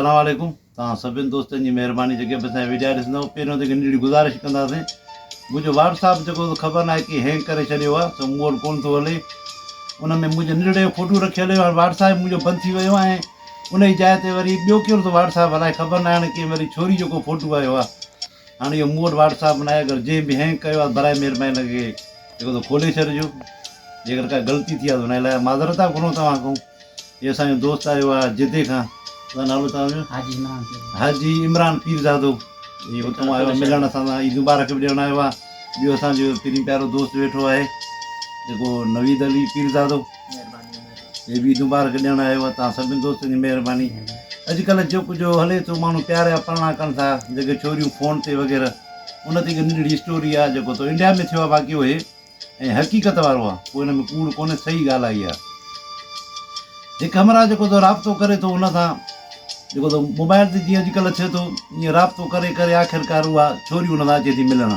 اسلام عليڪم توهان سڀني دوستن جي مهرباني جيڪي به اسان جا وڊيا ڏسندو پهريون ته هڪ ننڍڙي گذارش ڪنداسين منهنجو واٽساپ جيڪو سو خبر ناهي ڪي هينگ ڪري ڇڏيو آهي سو مون وٽ ڪون ٿو هلي ان ۾ منهنجو ننڍڙي جو فوٽو رکي هليو هاڻي واٽساپ منهنجو بند ٿي ويو آهي ان جي جاء تي وري ٻيو ڪهڙو ٿو واٽساپ هلائي خبر ناهي هاڻي ڪي وري ڇوري جيڪو فوٽو آيو آهي هاڻ اهو مون وٽ واٽس اپ ناهي اگر جنهن به هينگ ڪيو آهي براء مهرباني لڳي کي جيڪو تو کولي ڇڏجو جيڪر ڪا غلطي ٿي آهي ته ان لاء معذرت ٿا گهرون توهان کان هي اسان جو دوست آيو آهي جدي کان ڇا نالو توهان جو حاجي عمران پيرزادو حاجي عمران پيرزادو هي اتان آيو آهي ملڻ اسان سان عيد مبارڪ به ڏيڻ آيو آهي ٻيو اسان جو پرين پيارو دوست ويٺو آهي جيڪو نويد علي پيرزادو مهرباني مهرباني اي ويد مبارڪ ڏيڻ آيو آهي توهان سڀني دوستن جي مهرباني اڄڪلهه جيڪو جو هلي ٿو ماڻهو پيار جا پرڻا ڪن ٿا جيڪي ڇوريون فون تي وغيره ان تي هڪ ننڍڙي اسٽوري آهي جيڪو تو انڊيا ۾ ٿيو آهي واقعو هي ۽ حقيقت وارو آهي ڪو ان ۾ ڪوڙ ڪونهي صحيح ڳالهه آهي اها هڪ همراهه جيڪو تو رابطو ڪري ٿو ان سان جيڪو تو موبائل تي جيئن اڄڪلهه ٿئي ٿو ائين رابطو ڪري ڪري آخرڪار اها ڇوري ان سان اچي ٿي ملڻ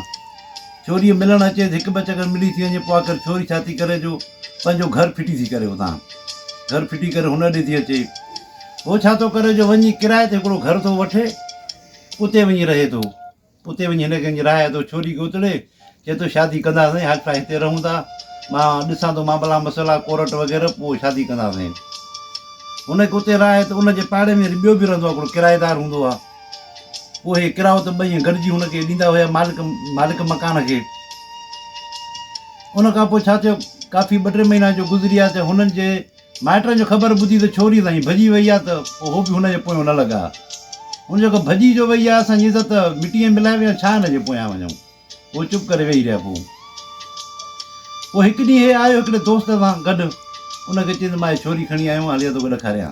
ڇوريء ملڻ اچيس هڪ ٻه چڪر ملي ٿي وڃي پوء آخر ڇوري ڇا ٿي ڪري جو پنهنجو گهر ڦٽي ٿي ڪري اتان گهر ڦٽي ڪري هن ڏي ٿي اچي هو ڇا ٿو ڪري جو وڃي ڪرايي تي هڪڙو گهر ٿو وٺي اتي وڃي رهي ٿو اتي وڃي هن کي راهي ٿو ڇوري کي اتڙي چي ٿو شادي ڪنداسين حال فلحال هتي رهون ٿا مان ڏسان ٿو معاملا مسئلا ڪورٽ وغيره پوء شادي ڪنداسين هن کي اتي راهي ته ان جي پاڙي ۾ وري ٻيو به رهندو آهي هڪڙو ڪرايدار هوندو آهي اهي ڪرايو ته ٻئي گڏجي هن کي ڏيندا هيا مالڪ مالڪ مڪان کي ان کان پوء ڇا ٿيو ڪافي ٻه ٽي مهينا جو گذري ويا ته هنن جي مائٽن جو خبر ٻڌي ته ڇوري سائين ڀڄي وئي آهي ته پوء هو به هن جي پويان نه لڳا ان جو ڪو ڀڄي جو وئي آهي اسان جي عزت مٽيء ۾ ملائي ويا ڇا هن جي پويان وڃون هو چپ ڪري ويهي رهيا پوء پوء هڪ ڏينهن هي آيو هڪڙي دوست سان گڏ ان کي چيس مان هي ڇوري کڻي آيو آهيان هليا توکي ڏکاريان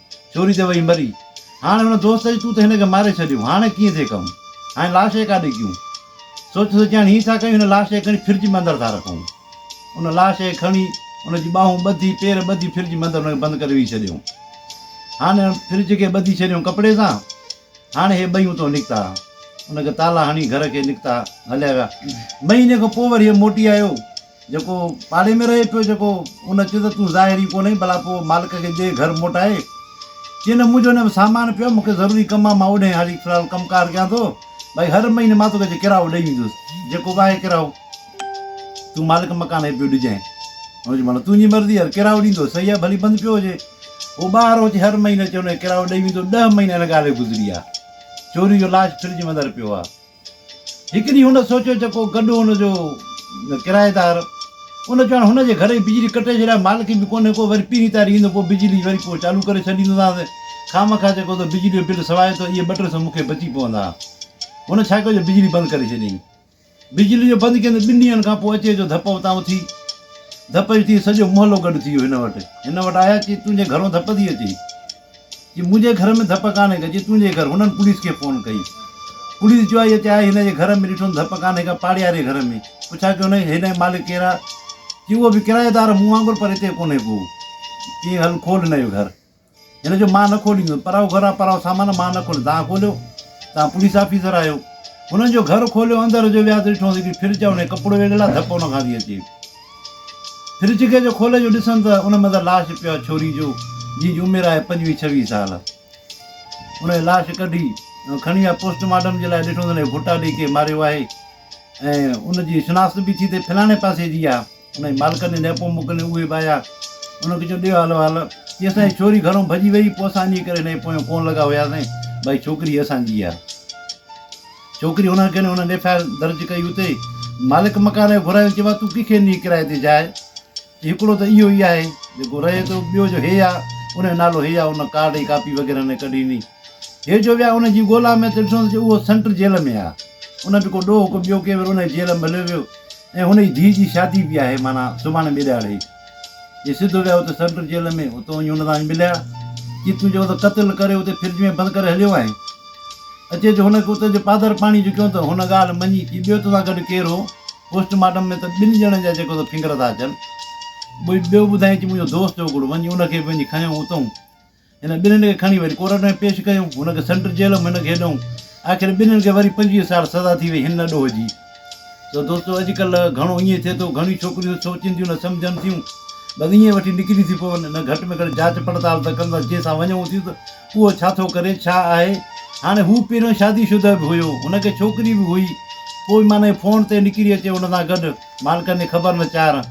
چوري تي وئي مري هاڻ هن دوست چيو تون ته هن کي ماري ڇڏيو هاڻ ڪيئن ٿي ڪم هاڻ لاش کي ڪاڏي ڪيون سوچي سوچي هاڻ هين ٿا ڪيون هن لاش کي کڻي فرج ۾ اندر ٿا رکون ان لاش کي کڻي ان جي ٻاهون ٻڌي پير ٻڌي فرج ۾ اندر هن کي بند ڪري ويهي ڇڏيون هاڻ فرج کي ٻڌي ڇڏيون ڪپڙي سان هاڻ هي ٻئي اتو نڪتا ان کي تالا هڻي گهر کي نڪتا هليا ويا مهيني کان پوء وري هي موٽي آيو جيڪو پاڙي ۾ رهي پيو جيڪو ان چيو ته تون ظاهر ئي ڪونهين ڀلا پوء مالڪ کي ڏي گهر موٽائي چي نه منهنجو ان ۾ سامان پيو آهي مون کي ضروري ڪم آهي مان اوڏهين هلي فلحال ڪم ڪار ڪيان ٿو ڀائي هر مهيني مان توکي ڪرايو ڏئي ويندس جيڪو به آهي ڪرايو تون مالڪ مڪان کي پيو ڏجانء هن چيو مطلب تنهنجي مرضي هر ڪرايو ڏيندو صحيح آهي ڀلي بند پيو هجي هو ٻاهر اچي هر مهيني اچي هن کي ڪرايو ڏئي ويندو ڏهه مهينا هن ڳالهه کي گذري ويا چوري جو لاش فرج جي اندر پيو آهي هڪ ڏينهن هن سوچيو ته ڪو گڏهو هن جو ڪرائيدار ان چيو هاڻي هن جي گهر جي بجلي ڪٽي ڇڏيان مالڪ به ڪونهي ڪو وري پهرين تاري ايندو پوء بجلي وري پوء چالو ڪري ڇڏيندوسانس خامخواه جيڪو تو بجلي جو بل سوايو ٿو اهي ٻه ٽي سئو مون کي بچي پوندا هن ڇا ڪيو جو بجلي بند ڪري ڇڏيائين بجلي جو بند ڪيندو ٻن ڏينهن کان پوء اچي جو ڌپ اتان اٿي ڌپ جو ٿي سڄو محلو گڏ ٿي ويو هن وٽ هن وٽ آيا چي تنهنجي گهرون ڌپ ٿي اچي جي منهنجي گهر ۾ ڌپ ڪانهي ڪا جي تنهنجي گهر هنن پوليس کي فون ڪئي پوليس جو آئي اچي آئي هن جي گهر ۾ ڏٺم ڌپ ڪانهي ڪا پاڙياري گهر ۾ پڇا ڪي هنن هن جو مالڪ ڪير آ جي اهو به ڪرايدار مون وانگر پر هتي ڪونهي ڪو جي هل کول هن جو گهر هن جو مان نه کوليندس پرائو گهر آ پرائو سامان مان نه کوليندس تان کوليو تان پوليس آفيسر آيو هنن جو گهر کوليو اندر جو ويا ته ڏٺو هڪڙي فرج آ هن جو ڪپڙو ويڙهيل آ ڌپ هن کان ٿي اچي. ڦر جھڳي جو کولي جو ڏسن ته ان مندر لاش پيو آهي ڇوري جو جنهن جي عمر آهي پنجويهه ڇويهه سال ان جي لاش ڪڍي کڻي آ پوسٽ مارٽم جي لاء ڏٺو ته ڦوٽا ڏئي ڪي ماريو آهي ۽ ان جي شناخت به ٿي ته فلاڻي پاسي جي آ ان جي مالڪن جي نيپو موڪلي اهي به آيا ان کي چيو ڏيو حال وال چي اسان جي ڇوري گھرون ڀڄي وئي پوء اسان انهي ڪري هن جي پويان ڪون لڳا هياسين ڀائي ڇوڪري اسان جي آ ڇوڪري هن اگهين هن ايف آء آر درج ڪئي اتي ئي مالڪ مڪان کي گهرايو چيو آهي تون ڪنهن کي ڏينهين ڪرايي تي جاء چي هڪڙو ته اهو ئي آهي جيڪو رهي ٿو ٻيو جو هي آ ان جو نالو هي آ ان ڪارڊ جي ڪاپي وغيره هن ڪڍي ڏني هي جو ويا ان جي ڳولا ۾ ته ڏٺو ته اهو سينٽر جيل ۾ آ ان به ڪو ڏوهه ڪو ٻيو ڪنهن وري ان جيل ۾ هليو ويو ۽ هن جي ڌيء جي شادي به آهي معنيٰ سڀاڻي ٻي ڏهاڙي جي سڌو ويا اتي سينٽرل جيل ۾ اتي وڃي هن سان مليا جي تون جيڪو قتل ڪري اتي فرج ۾ بند ڪري هليو آهين اچي جو هن کي اتي جو پادر پاڻي جو ڪيو ته هن ڳالهه مڃي جي ٻيو توسان گڏ ڪير هو پوسٽ مارٽم ۾ ته ٻن ڄڻن جا جيڪو ته فنگر ٿا اچن ٻيو ٻڌائين چي منهنجو دوست هو هڪڙو وڃي ان کي به وڃي کنيو اتئون هن ٻنهين کي کڻي وري ڪورٽ ۾ پيش ڪيائون، هن کي سنٽر جيل ۽ هن کي هيڏئون. آخر ٻنهين کي وري پنجويهه سال سزا ٿي وئي، هن نه ڏوهجي. سو دوستو اڄڪلهه گهڻو ائين ٿئي ٿو، گهڻيون ڇوڪريون سوچين ٿيون نه سمجهن ٿيون، بس ائين وٺي نڪري ٿي پون، نه گهٽ ۾ گهٽ جاچ پڙتال ته ڪندس جنهن سان وڃون ٿيون ته اهو ڇا ٿو ڪري، ڇا آهي. هاڻي هو پهريون شادي شده به هيو، هن کي ڇوڪري به هئي، پوء به معنيٰ فون تي نڪري اچي هن سان گڏ، مالڪن جي خبر نه چار.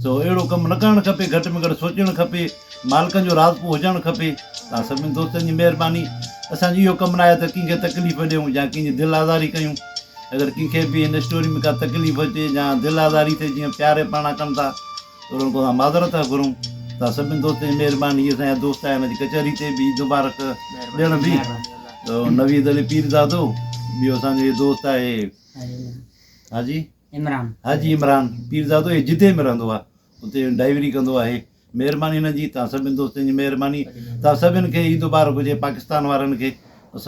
سو اهڙو ڪم نه ڪرڻ کپي، گهٽ ۾ گهٽ سوچڻ کپي. مالڪن جو راضپو هجڻ کپي. توهان سڀني دوستن جي مهرباني. اسان جو اهو ڪم ناهي ته ڪنهن کي تڪليف ڏيون يا ڪنهن جي دل آزاري ڪيون. اگر ڪنهن کي به هن اسٽوري ۾ ڪا تڪليف اچي يا دل آزاري ٿئي جيئن پياري پاڻا ڪن ٿا ته انهن کان اسان معذرت ٿا گهرون. توهان سڀني دوستن جي مهرباني. هي اسان جا دوست آهن هن جي ڪچهري تي به عيد مبارڪ ڏيڻ به نويد علي پيرزادو ٻيو اسان جو هي دوست آهي حاجي. حاجي عمران پيرزادو هي جدي ۾ رهندو آهي اتي ڊائيوري ڪندو آهي مهرباني هن جي توهان سڀني دوستن جي مهرباني توهان سڀني کي عيد مبارڪ هجي پاڪستان وارن کي.